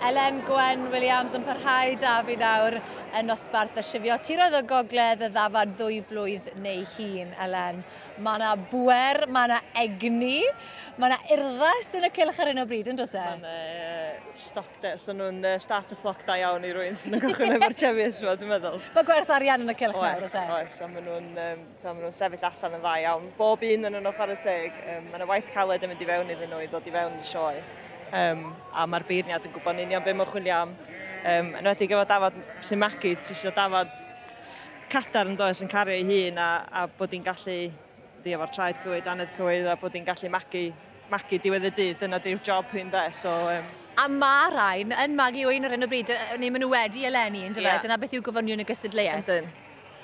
Elen Gwen Williams yn parhau da fi nawr yn nosbarth y sifio tiroedd o gogledd y ddafad ddwy flwydd neu hun, Elen. Mae yna bwer, mae yna egni, mae yna urddas yn y cylch ar hyn o bryd, yn dos e? Mae'n uh, stoc de, so nhw'n uh, start y ffloc da iawn i rwy'n sy'n yn gychwyn efo'r Chevies yma, dwi'n meddwl. Mae gwerth arian yn y cylch nawr, oes e? Oes, a maen nhw'n um, So, maen nhw'n sefyll allan yn dda iawn. Bob un yn yno chwarae teg. Um, mae yna waith caled yn mynd i fewn iddyn nhw i ddod i fewn i sioe. Um, a mae'r beirniad yn gwybod yn union beth mae'n chwilio am. Um, yn wedi gyfod dafod sy'n magu, ti eisiau dafod cadar yn does yn cario ei hun a, a bod hi'n gallu ddi efo'r traed cywyd, anedd cywyd a bod hi'n gallu magu, magu diwedd y dydd. Dyna di'r job hyn de. So, um, A mae rhain yn magu o un ar hyn o bryd, neu maen nhw wedi eleni, yn dyfa? Yeah. Dyna beth yw gofynion y gystadleuaeth. Ydyn.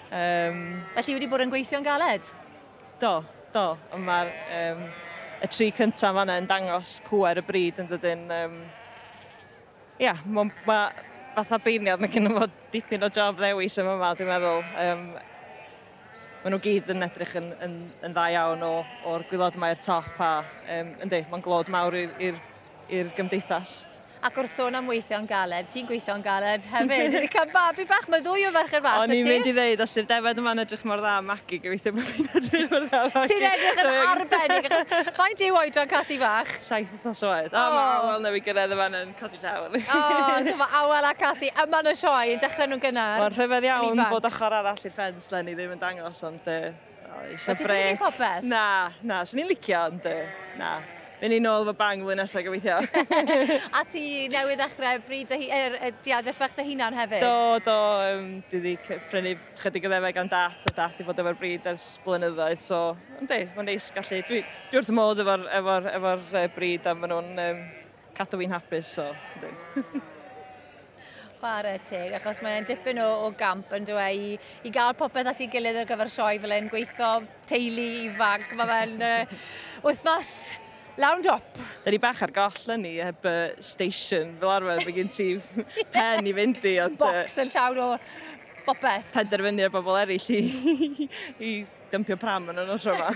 Um, Felly wedi bod yn gweithio'n galed? Do, do. Mae'r um, y tri cyntaf fanna yn dangos pwer y bryd yn dydyn. Um, ia, mae ma, fatha beirniad, mae gen i fod dipyn o job ddewis yma yma, dwi'n meddwl. Um, maen nhw gyd yn edrych yn, yn, yn dda iawn o'r gwylod mae i'r top a um, yndi, mae'n glod mawr i'r i'r gymdeithas. Ac wrth sôn am weithio'n galed, ti'n gweithio'n galed hefyd. Wedi cael babi bach, mae ddwy o ferched fach O'n i'n mynd i ddeud, os yw'r defed yma'n edrych mor dda am magu, gobeithio bod fi'n edrych mor dda am magu. Ti'n edrych yn arbennig, achos faint yw oedran Casi Fach? Saith wythnos oed. O, mae awel newydd gyrraedd yma yn codi llaw. O, so mae awel a Casi yma yn y sioe, yn dechrau nhw'n gynnar. Mae'n rhyfedd iawn bod ochr arall i'r ffens, len i ddim yn dangos, ond Eisiau brec. Wyt ti'n ffili gwneud popeth? Na, na, swn i'n licio, ond na. Mynd i nôl fy bang flwyddyn nesaf gobeithio. a ti newydd ddechrau bryd dy, er, er, diadell bach dy hunan hefyd? Do, do. Um, dwi wedi prynu chydig o ddefeg gan dat, a dat i fod efo'r bryd ers blynyddoedd, so, ynddi, mae'n neis gallu. Dwi, dwi wrth y modd efo'r efo, efo, efo bryd, a maen nhw'n um, cadw fi'n hapus, so, ynddi. Chwarae teg, achos mae'n dipyn o, o gamp yn dweud i, i gael popeth at ei gilydd ar gyfer sioe fel e'n gweithio, teulu, ifanc, mae fe'n uh, wythnos lawn dop. Da ni bach ar goll yn ni, heb uh, station fel arfer, fe gen ti pen i fynd i. Ond, Box yn llawn o bopeth. Penderfynu ar bobl eraill i, i Dympio pram yn y notra yma.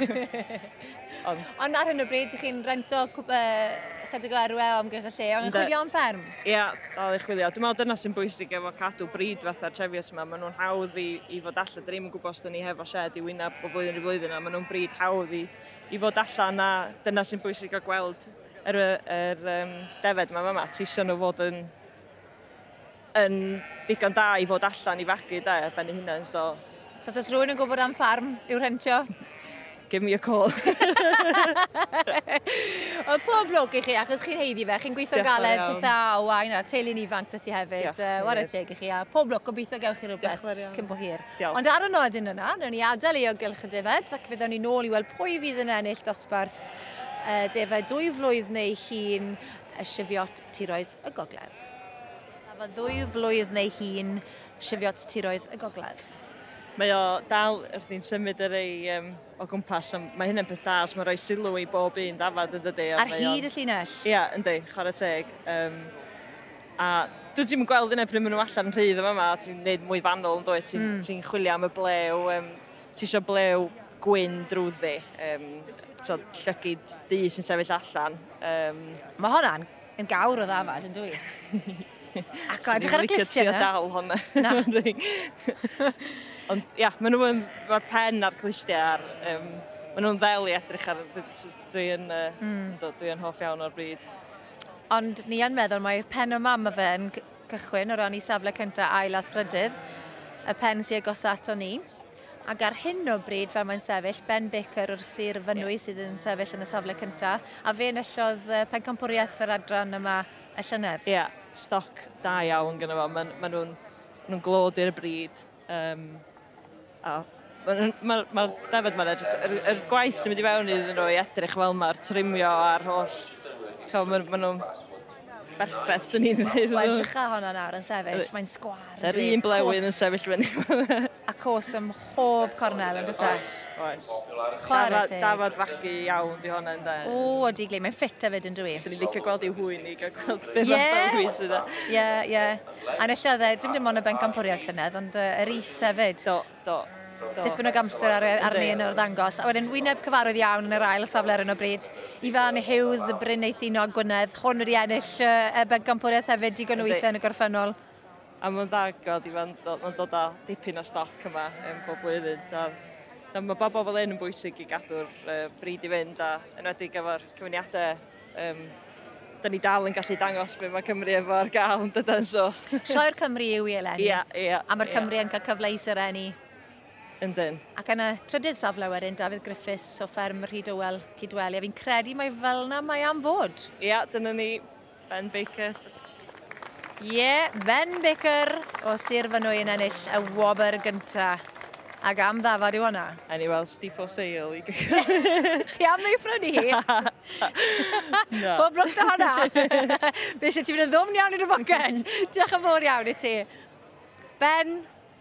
Ond... Ond ar hyn o bryd, chi'n rento cwp, uh, chydig o erwe o amgylch y lle, ond yn chwilio am fferm? Ie, yeah, dal i chwilio. Dwi'n meddwl dyna sy'n bwysig efo cadw bryd fatha'r trefios yma. Maen nhw'n hawdd i, i fod allan. Dyn ni'n gwybod os dyn ni hefo shed i wyneb o flwyddyn i flwyddyn a maen nhw'n bryd hawdd i, i fod allan a dyna sy'n bwysig o gweld yr, yr um, defed yma fama. Ti sôn o fod yn yn digon da i fod allan i fagu de, ben ei hunain, so... So os oes rhywun yn gwybod am ffarm i'w rhentio? Give me a call. Wel, pob lwc i chi, achos chi'n heiddi fe. Chi'n gweithio galed, ti tha o wain a'r teulu'n ifanc dy ti hefyd. Diolch, uh, Wara teg i chi, a pob lwc, gobeithio gewch chi rhywbeth cyn bo hir. Diolch. Ond ar y nodyn yna, newn ni adael ei ogylch y defaid, ac fe ddewn ni nôl i weld pwy fydd yn ennill dosbarth uh, defaid dwy flwydd neu hun y sifiot tiroedd y gogledd. A fo ddwy flwydd neu hi'n sifiot tiroedd y gogledd. Mae o dal wrth i'n symud yr ei um, o gwmpas, so mae hynny'n peth da, so mae'n rhoi sylw i bob un dafad yn dydy. Ar hyd y llinell? Ia, yeah, yndi, chwarae teg. Um, a dwi ddim yn gweld yna pryd maen nhw allan rhydd yma yma, ti'n gwneud mwy fanol yn dweud, ti'n mm. ti chwilio am y blew, um, ti eisiau blew gwyn drwyddi, um, so, llygyd du sy'n sefyll allan. Um, mae hwnna'n Yn gawr o ddafad, yn dwi. Ac o, edrych ar y glistiau yna. dal hwnna. Na. Ond, ia, maen nhw'n... Mae'r pen a'r glistiau a'r... Um, maen nhw'n ddel i edrych ar... Dwi'n uh, mm. dwi hoff iawn o'r bryd. Ond ni yn meddwl mae'r pen o mam y fe yn cychwyn o ran i safle cyntaf ail a thrydydd, y pen sy'n agos ato ni. Ac ar hyn o bryd, fel mae'n sefyll, Ben Baker o'r Sir Fynwy sydd yn sefyll yn y safle cyntaf, a fe enillodd pencampwriaeth yr adran yma y llynedd. Ie, stoc da iawn gyda fo. Maen ma nhw'n ma nhw glod i'r bryd. Um, a Mae'r ma, ma defod ma'n edrych... Yr, yr gwaith sy'n mynd i fewn iddyn nhw i edrych fel mae'r trimio a'r holl... Chofio, maen ma nhw'n berffaith swn i'n ddeud. Wel edrych ar hwnna nawr yn sefyll, mae'n sgwar. Yr un blewyn yn sefyll fyny. a cos ym mhob cornel yn dysau. Oes, oes. Chwarae teg. Dafod fagu iawn di hwnna ynda. O, o di glei, mae'n ffit a fyd yn dwi. Swn i'n licio gweld i'w hwy'n i gael gweld beth yeah. fath hwy sydd e. Ie, ie. A nes oedd e, dim dim ond y bencampwriaeth llynedd, ond yr is hefyd. Do. Do. Do. Dipyn o gamster ar, arni yn yr ddangos. A wedyn wyneb cyfarwydd iawn yn yr ail safle ar hyn o bryd. Ifan Hughes, y Bryn Eithinog Gwynedd, hwn wedi ennill uh, y bencampwriaeth hefyd digon o weithiau yn y gorffennol. A mae'n ddagod, Ifan, mae'n dod â dipyn o stoc yma yn bob blwyddyn. Da, da, mae bobl fel un yn bwysig i gadw'r uh, bryd i fynd, a enwedig efo'r cyfyniadau Yym, da ni dal yn gallu dangos be mae Cymru efo ar gael yn dydan, so... Sioe'r Cymru yw i eleni. Ia, ia. A mae'r Cymru yn cael cyfle i serennu. Yndyn. Ac yn y trydydd safle wedyn, Dafydd Griffiths o fferm Rhyd Ywel, Cydweli, a fi'n credu mai fel 'na mae am fod. Ia, dyna ni, Ben Baker. Ie, yeah, Ben Baker o Sir Fynwy yn ennill y wobr gynta. Ac am ddafod yw hwnna? A ni weld Steve for sale i gychwyn. Ti am ei ffrynu hi? Na. Pob lwc da hwnna. Fe eisiau ti fynd yn ddwmn iawn i'r boced. Diolch yn fawr iawn i ti. Ben,